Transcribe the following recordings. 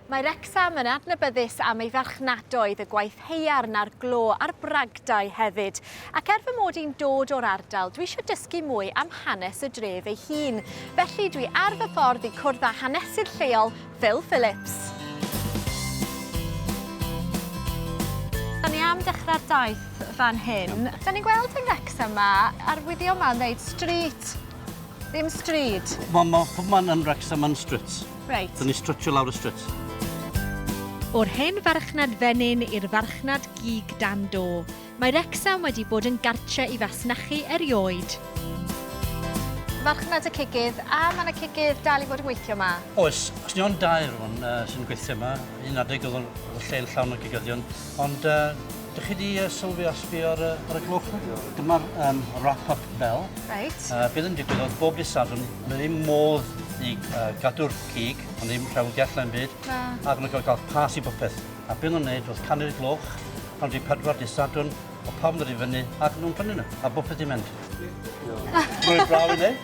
Mae Wrecsam yn adnabyddus am ei farchnadoedd, y gwaith haearn a'r glo a'r bragdau hefyd. Ac er fy mod i'n dod o'r ardal, dwi eisiau dysgu mwy am hanes y dref ei hun. Felly dwi ar fy ffordd i cwrdd â hanesydd lleol, Phil Phillips. Da ni am dechrau'r daith fan hyn. Da ni'n gweld yng Ngwrecsam ma, arwyddion ma'n ddeud street, ddim stryd. Wel, mae pob man yn Wrecsam yn stryd. Reit. Dyn ni strytsio lawr y stryt. O'r hen farchnad fenyn i'r farchnad gig dan do, mae Wrecsam wedi bod yn gartre i fasnachu erioed. Farchnad y cigydd, a mae yna cigydd dal i fod yn gweithio yma? Oes, os ni ond dau rwan uh, sy'n gweithio yma, un adeg oedd o'n lle yn llawn o gigyddion, ond uh, dych chi wedi uh, sylwi a sbio ar, uh, ar y gloch? Dyma'r um, wrap-up bell. Right. Uh, beth yn digwydd oedd bob dysadwn Mae ddim modd i gadw'r cig, ond ddim rhewyd i allan byd. Na. Ac mae'n cael cael pas i bopeth. A beth nhw'n neud oedd canu'r gloch, pan wedi pedwar di sadwn, o pawb yn dod i fyny, ac nhw'n prynu nhw, a bopeth di mynd. Rwy'n braf i neud.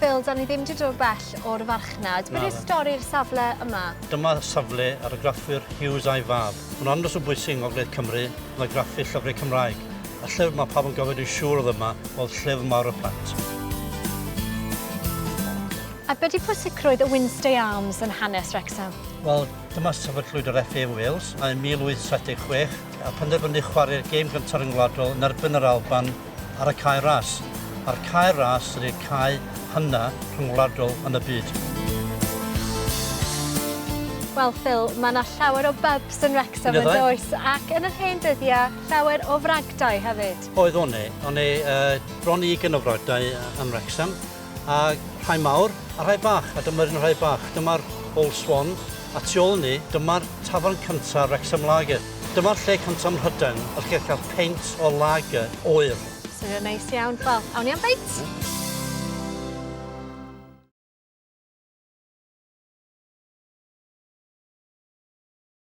Phil, 'da ni ddim 'di dod bell o'r farchnad. Beth yw stori'r safle yma? Dyma safle argraffwyr Hughes a'i fab. Mae'n andros o bwysig yng Ngogledd Cymru yn argraffu llyfrau Cymraeg. Y llyfr mae pawb yn gofio dwi'n siŵr oedd yma oedd Llyfr Mawr y Plant. A beth yw pwysigrwydd y Wynnstay Arms yn hanes Wrecsam? Wel, dyma sefydlwyd yr FA yn Wales yn 1876 a phenderfynu chwarae'r gêm gyntaf ryngwladol yn erbyn yr Alban ar y Cae Ras, a'r Cae Ras ydi'r cae hynna rhyngwladol yn y byd. Wel Phil, mae yna llawer o bybs yn Wrecsam yn does? Ac yn yr hen dyddiau, llawer o fragdai hefyd. Oedd, o'n 'ne. O'n 'ne bron i ugain o fragdai yn Wrecsam. a rhai mawr a rhai bach, a dyma'r un rhai bach, dyma'r Old Swan, a tu ôl ni, dyma'r tafarn cyntaf Wrexham Lager. Dyma'r lle cyntaf ym Mhrydain y chi'n cael peint o lager oer. Swnio'n neis iawn. Wel, awn ni am beint! Mm.